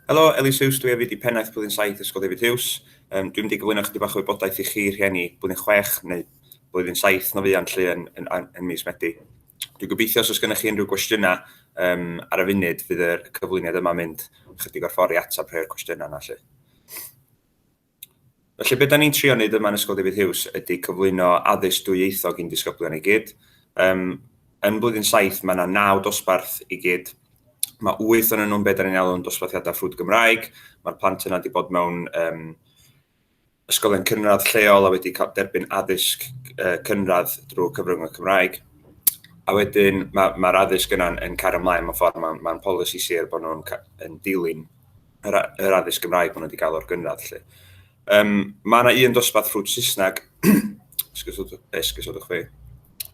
Helo, Ellis Hughes dwi hefyd i Pennaeth Blwyddyn Saith Ysgol David Hughes. Um, dwi'n mynd i gyflwyno chydig bach o wybodaeth i chi rhieni Blwyddyn Chwech neu Blwyddyn Saith na fuan lle yn, yn, yn, yn mis Medi. Dwi'n gobeithio os oes gennych chi unrhyw gwestiynau um, ar y funud fydd y cyflwyniad yma mynd chydig o'r ffordd i ateb rhai o'r cwestiynau yna lle. Felly, be dan ni'n trio wneud yma yn Ysgol David Hughes ydy cyflwyno addysg dwyieithog i'n disgyblion i gyd. Um, yn blwyddyn saith, mae yna naw dosbarth i gyd. Mae wyth o'n nhw'n beth da ni'n alw'n dosbarthiadau ffrwd Gymraeg. Mae'r plant yna wedi bod mewn um, ysgolion cynradd lleol a wedi cael derbyn addysg uh, cynradd drwy cyfrwng y Cymraeg. A wedyn mae'r ma, ma addysg yna'n yn cario ymlaen mewn ffordd, mae'n ma polisi sir bod nhw'n dilyn yr yr addysg Gymraeg maen nhw wedi cael o'r gynradd 'lly. Yym mae yna un dosbarth ffrwd Saesneg esgusodwch fi.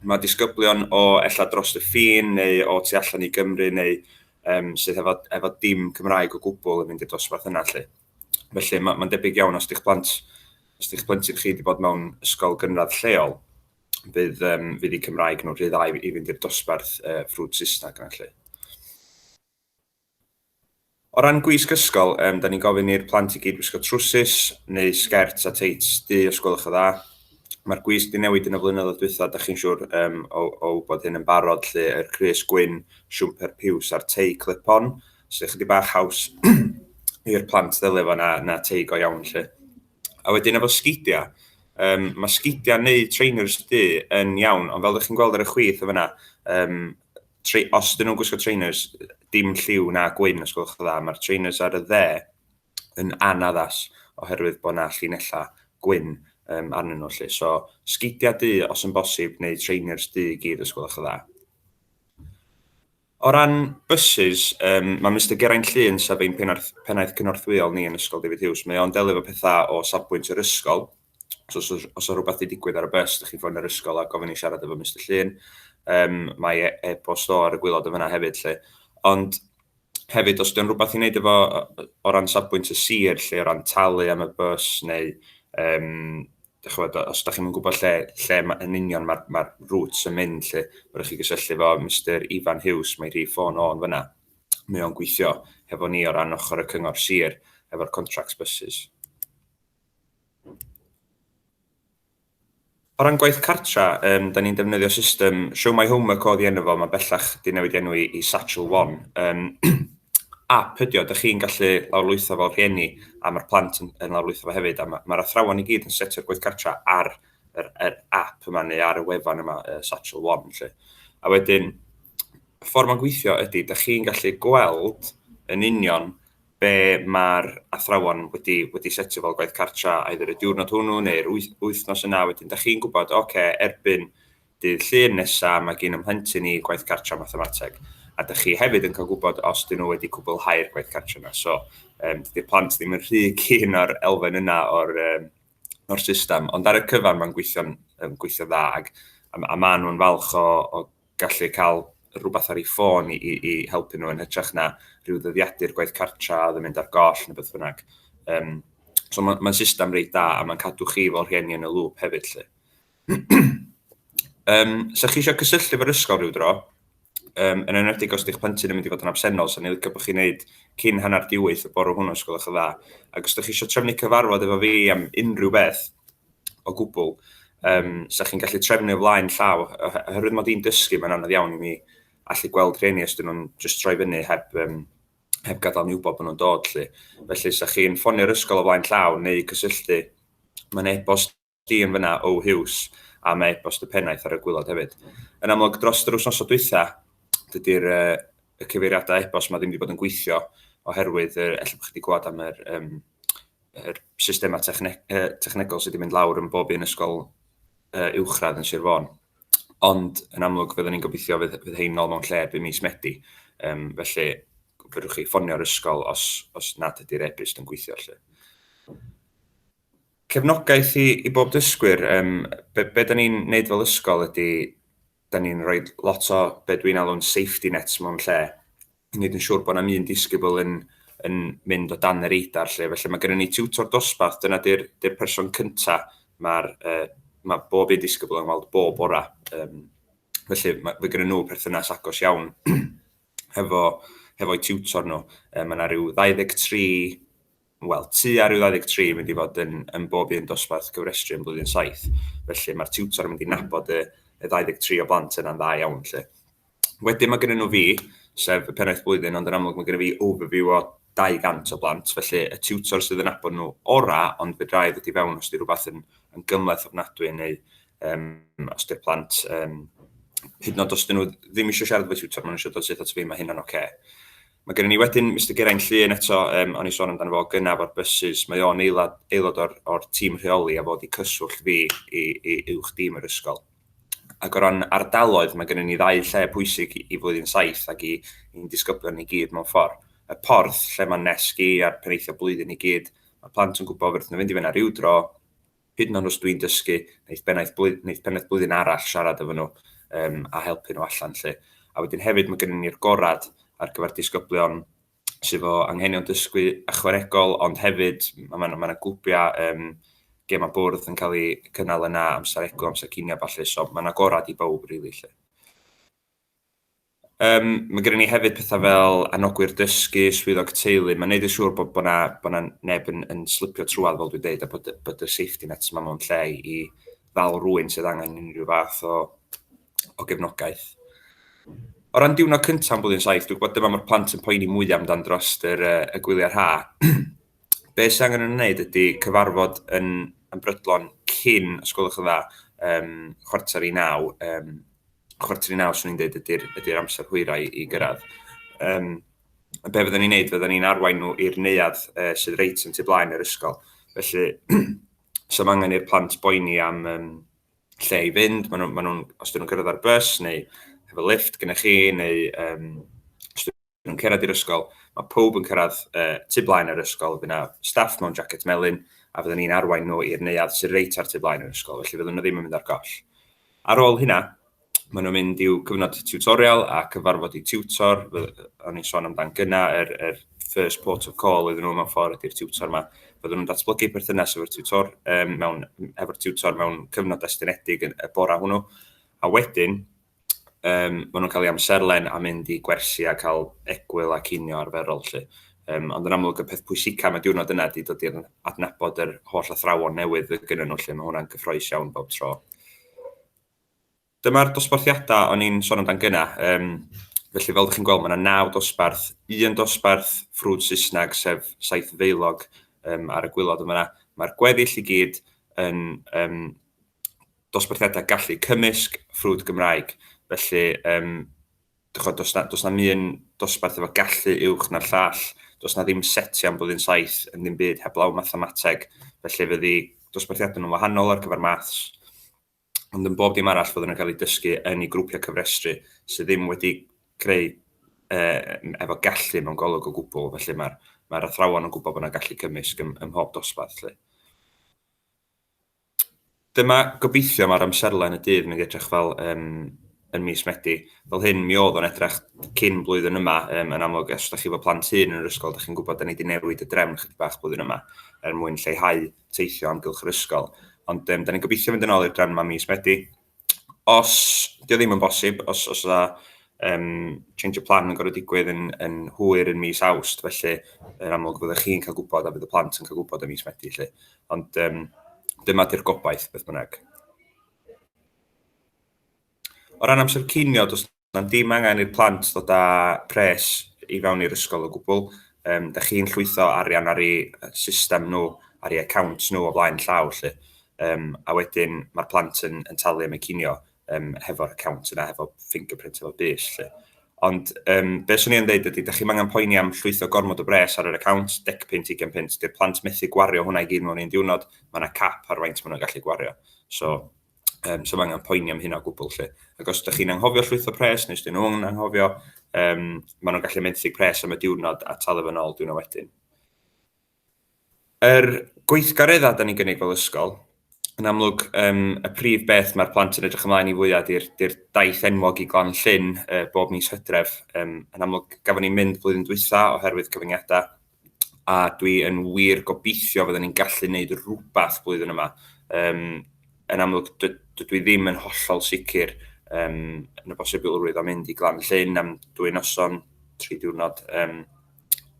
Mae disgyblion o ella dros y ffin neu o tu allan i Gymru neu um, sydd efo, efo dim Cymraeg o gwbl yn mynd i'r dosbarth yna lle. Felly mae'n ma debyg iawn os ydych plant, os ydych plentyn chi wedi bod mewn ysgol gynradd lleol, bydd, um, fydd i Cymraeg nhw'n rhy dda i, i fynd i'r dosbarth uh, ffrwd Saesneg yna lle. O ran gwisg ysgol, yym, 'dan ni'n gofyn i'r plant i gyd wisgo trwsus neu sgert a teits du os gwelwch yn dda. Mae'r gwisg 'di newid yn y flynyddoedd dwytha, dach chi'n siŵr yym o o wybod hyn yn barod 'lly, yr crys gwyn, siwmper piws a'r tei clip-on, sy' ychydig bach haws i'r plant ddelio efo na na tei go iawn 'lly. A wedyn efo sgidia', yym, ma' sgidia' neu trainers du yn iawn, ond fel 'dach chi'n gweld ar y chwith yn fan'na, yym, tre, os dyn nhw'n gwisgo trainers, dim lliw na gwyn, os gwelwch dda. Mae'r trainers ar y dde yn anaddas oherwydd bod na llinellau gwyn um, arnyn nhw. Lle. So, sgidiau du os yn bosib, neu trainers du i gyd, os gwelwch dda. O ran buses, um, mae Mr Geraint Llun, sef ein pennaeth cynorthwyol ni yn Ysgol David Hughes, mae o'n delio efo pethau o safbwynt yr ysgol, So os oes os oes rhywbeth wedi digwydd ar y bus, ydych chi'n ffonio'r yr ysgol a gofyn i siarad efo Mister Llun. Um, mae e- e-bost o ar y gwylod yn fyna hefyd lle. Ond hefyd, os dyn rhywbeth i wneud efo o ran safbwynt y sir lle, o ran talu am y bus neu um, chwbod, os ydych chi'n gwybod lle, lle ma, yn union mae'r ma, ma rŵt yn mynd lle, rydych chi gysylltu fo Mister Ifan Hughes, mae rhi ffôn o'n fyna. Mae o'n gweithio hefo ni o ran ochr y cyngor sir efo'r contracts buses. O ran gwaith cartra, yym, 'dan ni'n defnyddio system Show My Homework o'dd 'i enw fo, ma' bellach 'di newid 'i enw i i Satchel One. Yym ap ydi o, 'dych chi'n gallu lawrlwytho fel rhieni a ma'r plant yn yn lawrlwytho fo hefyd a ma' ma'r athrawon i gyd yn setio'r gwaith cartra ar yr yr ap yma neu ar y wefan yma yy Satchel One 'lly. A wedyn y ffor ma'n gweithio ydi 'dych chi'n gallu gweld yn union be mae'r athrawon wedi, wedi setio fel gwaith cartra, either y diwrnod hwnnw neu'r wythnos yna, wedyn da chi'n gwybod, oce, okay, erbyn dydd llun nesaf mae gen ymhlentyn i gwaith cartra mathemateg. A da chi hefyd yn cael gwybod os dyn nhw wedi cwblhau'r gwaith cartra yna. So, um, dydy'r plant ddim yn rhy cyn o'r elfen yna o'r, um, or system. Ond ar y cyfan mae'n gweithio'n um, gweithio dda ac a, a maen nhw'n falch o, o gallu cael rhywbeth ar ei ffôn i, i, i helpu nhw yn hytrach na rhyw ddyddiadur gwaith cartra oedd yn mynd ar goll neu beth bynnag. Um, so mae'n ma system reit da a mae'n cadw chi fel rhieni yn y lŵp hefyd lle. um, so chi eisiau cysylltu efo'r ysgol rhyw dro, um, yn enwedig os ydych plentyn yn mynd i fod yn absennol, so ni'n licio bod chi'n neud cyn hanner diwyth y bore hwnnw, os gwelwch yn dda. Ac os ydych chi eisiau trefnu cyfarfod efo fi am unrhyw beth, o gwbl. Yym, 'sa chi'n gallu trefnu o flaen llaw, ohe- oherwydd mod i'n dysgu, mae'n anodd iawn i mi allu gweld rheini os dyn nhw'n just troi fyny heb, um, heb gadael ni wybod bod nhw'n dod, lle. Felly, 'sa chi'n ffonio'r ysgol o flaen llaw neu cysylltu, mae'n e-bost di yn fyna o Hughes, a mae e-bost y pennaeth ar y gwylod hefyd. Yn amlwg, dros yr wythnosau dwytha, dydy'r uh, y cyfeiriadau e-bost mae ddim wedi bod yn gweithio oherwydd, uh, efallai bod chi wedi gweld am yr, um, yr systemau techne- yy technegol sydd wedi mynd lawr yn bob un ysgol yy uwchradd yn Sir Fôn. Ond yn amlwg fydden ni'n gobeithio fydd fydd hein nôl mewn lle by mis Medi. Um, felly fedrwch chi ffonio'r ysgol os, os nad ydy'r e-byst yn gweithio lle. Cefnogaeth i, i bob dysgwyr, um, be, be da ni'n neud fel ysgol ydy 'da ni'n rhoi lot o be dwi'n alw'n safety nets mewn lle i wneud yn siŵr bod 'na'm un disgybl yn yn mynd o dan y radar 'lly. Felly mae gennym ni tiwtor dosbarth, dyna 'di'r 'di'r person cynta' ma'r yy ma' bob un disgybl yn weld bob bora. Yym felly ma' ma' gynnyn nhw perthynas agos iawn hefo hefo'u tiwtor nhw. Yy ma' 'na ryw 23 Wel, tua rhyw 23 yn mynd i fod yn, yn bob un dosbarth cyfrestru yn blwyddyn saith, felly mae'r tiwtor yn mynd i nabod y, y 23 o blant yna'n dda iawn, lle. Wedyn mae gyda nhw fi, sef y pennaeth blwyddyn, ond yn amlwg mae gyda fi overview o 200 o blant, felly y tiwtor sydd yn nabod nhw ora, ond fedra i ddod i fewn os di rhywbeth yn, yn gymleth ofnadwy neu um, os di'r plant, um, hyd yn oed os dyn nhw ddim eisiau siarad efo tiwtor, maen nhw eisiau dod syth at fi, mae hynna'n oce. Okay. Mae gennym ni wedyn Mister Geraint Llŷn eto, yym o'n i'n sôn amdano fo gynaf o'r bysus, mae o'n eilad, aelod o'r, or tîm rheoli a fod i cyswllt fi i, i uwch dîm yr ysgol. Ac o ran ardaloedd, mae gennym ni ddau lle pwysig i, i flwyddyn saith ac i, i'n disgyblion ni gyd mewn ffordd. Y porth, lle mae'n nesg i a'r peneithio blwyddyn i gyd, mae plant yn gwybod fyrth nhw fynd i fyna rhyw dro, hyd yn oed os dwi'n dysgu neith bennaeth blwydd- neith pennaeth blwyddyn arall siarad efo nhw um, a helpu nhw allan lle. A wedyn hefyd mae gennym ni'r gorad ar gyfer disgyblion sydd fo anghenion dysgu ychwanegol, ond hefyd mae yna ma gwpiau um, gem a bwrdd yn cael ei cynnal yna, amser egw, amser cinio a falle, so mae yna gorad i bawb rili really, lle. Yym, mae gennym ni hefyd pethau fel anogwyr dysgu, swyddog teulu, mae'n neud yn siŵr bod bod 'na bod 'na neb yn yn slipio trwad fel dwi'n deud a bod y bod y safety nets yma mewn lle i ddal rhywun sydd angen unrhyw fath o o gefnogaeth. O ran diwrnod cyntaf yn Blwyddyn Saith, dwi'n gwybod dyma mae'r plant yn poeni mwyaf amdan dros yr yy y gwyliau rha. Be' sydd angen yn wneud ydy cyfarfod yn yn brydlon cyn, os gwelwch yn dda, yym chwarter i naw, yym chwarter i naw, swn i'n dweud, ydy'r ydy amser hwyrau i gyrraedd. Um, be fyddwn ni'n neud, fyddwn ni'n arwain nhw i'r neuad uh, sydd reit yn tu blaen yr ysgol. Felly, so mae angen i'r plant boeni am um, lle i fynd, maen nhw, ma nhw, os dyn nhw'n cyrraedd ar bus neu hefo lift gyda chi, neu um, os dyn nhw'n cyrraedd i'r ysgol, mae pawb yn cyrraedd uh, tu blaen yr ysgol, fydd yna staff mewn jacket melyn, a fyddwn ni'n arwain nhw i'r neuadd sy'n reit ar tu blaen yr ysgol, felly fyddwn nhw ddim yn mynd ar goll. Ar ôl hynna, maen nhw'n mynd i'w cyfnod tutorial a cyfarfod i tiwtor, o'n i'n sôn amdan gyna, yr, er, er first port of call iddyn nhw mewn ffordd ydy'r tiwtor yma. Byddwn nhw'n datblygu perthynas efo'r tiwtor, um, mewn, efo'r tiwtor mewn cyfnod estynedig y bora hwnnw. A wedyn, yym ma' nhw'n cael eu amserlen a mynd i gwersi a cael egwyl a cinio arferol 'lly. Yym ond yn amlwg y peth pwysica am y diwrnod yna ydy dod i adnabod yr holl athrawon newydd fydd gynnyn nhw 'lly, ma' hwnna'n gyffrous iawn bob tro. Dyma'r dosbarthiadau o'n i'n sôn amdan gyna. Yym felly fel 'dych chi'n gweld ma' 'na naw dosbarth, un dosbarth ffrwd Saesneg sef Saethfeilog yym ar y gwilod yn fan'na. Ma'r gweddill i gyd yn yym dosbarthiadau gallu cymysg, ffrwd Gymraeg. Felly, um, dychod, dos na, dos na mi yn dosbarth efo gallu uwch na'r llall, dos na ddim seti am blwyddyn saith yn ddim byd heblaw mathemateg, felly fyddi dosbarthiadau nhw'n wahanol ar gyfer maths, ond yn bob dim arall fyddwn yn cael ei dysgu yn ei grwpiau cyfrestru sydd ddim wedi creu uh, efo gallu mewn golwg o gwbl, felly mae'r mae athrawon yn gwybod bod yna gallu cymysg ym, ym mhob dosbarth. Felly. Dyma gobeithio mae'r amserlen y dydd mynd i edrych fel yn yn mis Medi. Fel hyn mi oedd o'n edrych cyn blwyddyn yma um, yn amlwg os ydych chi efo plant hŷn yn yr ysgol ydych chi'n gwybod da ni wedi newid y drefn chydig bach blwyddyn yma er mwyn lleihau teithio amgylch yr ysgol. Ond um, da ni'n gobeithio fynd yn ôl i'r drefn yma mis Medi os dio ddim yn bosib, os os yna um, change y plan yn gorau digwydd yn, yn hwyr yn mis awst, felly yn amlwg fyddwch chi'n cael gwybod a bydd y plant yn cael gwybod yn mis Medi. Felly. Ond um, dyma di'r gobaith beth bynnag. O ran amser cinio, does Does dim angen i'r plant ddod â pres i fewn i'r ysgol o gwbl. Um, da chi'n llwytho arian ar ei system nhw, ar ei account nhw o flaen llaw lle. Um, a wedyn mae'r plant yn, yn talu am y cinio um, hefo'r account yna, hefo fingerprint, hefo bus lle. Ond um, beth swn i'n dweud ydy, da chi'n angen poeni am llwytho gormod o bres ar yr account, dec pint, ugen pint, dy'r plant methu gwario hwnna i gyd mewn un diwrnod, mae yna cap ar faint maen nhw'n gallu gwario. So, Um, so mae angen poeni am hynna o gwbl lle. Ac os ydych chi'n anghofio llwytho pres, neu os ydych nhw'n anghofio, um, maen nhw'n gallu menthyg pres am y diwrnod a talu fy nôl diwrnod wedyn. Yr gweithgareddau da ni'n gynnig fel ysgol, yn amlwg, um, y prif beth mae'r plant yn edrych ymlaen i fwyaf i'r daith enwog i glan llyn uh, bob mis hydref. Um, yn amlwg, gafon ni'n mynd blwyddyn dwytha oherwydd cyfyngiadau, a dwi yn wir gobeithio fydden ni'n gallu gwneud rhywbeth blwyddyn yma. Um, yn amlwg, dydw i ddim yn hollol sicr um, yn y bosibilrwydd o mynd i Glan Llyn am dwy noson, tri diwrnod, um,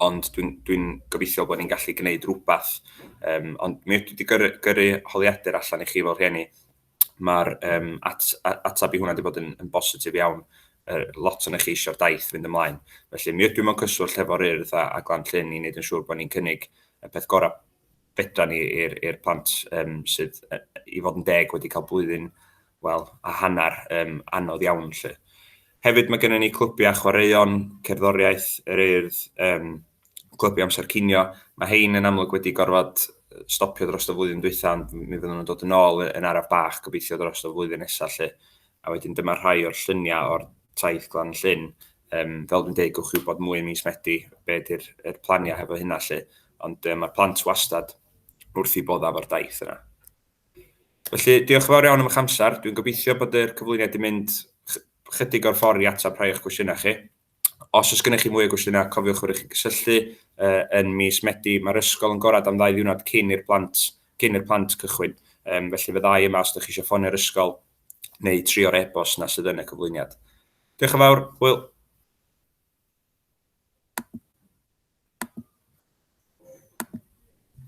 ond dwi'n dwi, gobeithio bod ni'n gallu gwneud rhywbeth. Um, ond mi ydw wedi gyrru, gyrru holiadur allan i chi fel rhieni, ma'r yym at- a- ateb i hwnna 'di bod yn yn bositif iawn. Yy lot ohonoch chi isio'r daith fynd ymlaen. Felly mi ydw i mewn cyswllt hefo'r Urdd a a Glan Llŷn i neud yn siŵr bo' ni'n cynnig y peth gora' fedran ni i'r i'r plant yym sydd yy i fod yn deg wedi ca'l blwyddyn wel a hannar yym anodd iawn 'lly. Hefyd ma' gynnon ni clwbia chwaraeon, cerddoriaeth, yr Urdd yym clybiau amser cinio. Mae hein yn amlwg wedi gorfod stopio dros y flwyddyn dwytha, ond mi fyddwn nhw'n dod yn ôl yn araf bach gobeithio dros y flwyddyn nesaf lle. A wedyn dyma rhai o'r lluniau o'r taith glan llyn. Um, fel dwi'n dweud, gwch chi wybod mwy mis Medi, be ydy'r er planiau hefo hynna lle. Ond um, mae'r plant wastad wrth i boddaf o'r daith yna. Felly, diolch yn fawr iawn am eich amser. Dwi'n gobeithio bod yr cyflwyniad wedi mynd chydig o'r ffordd i atab rhai o'ch cwestiynau chi. Os oes gennych chi mwy o gwestiynau, cofiwch fod chi'n cysylltu yn mis Medi. Mae'r ysgol yn gorad am ddau ddiwrnod cyn i'r plant cyn i'r plant cychwyn, um, felly fe ddau yma os ydych chi eisiau ffonio'r ysgol neu tri o'r e-bost na sydd yn y cyflwyniad. Diolch yn fawr, Will.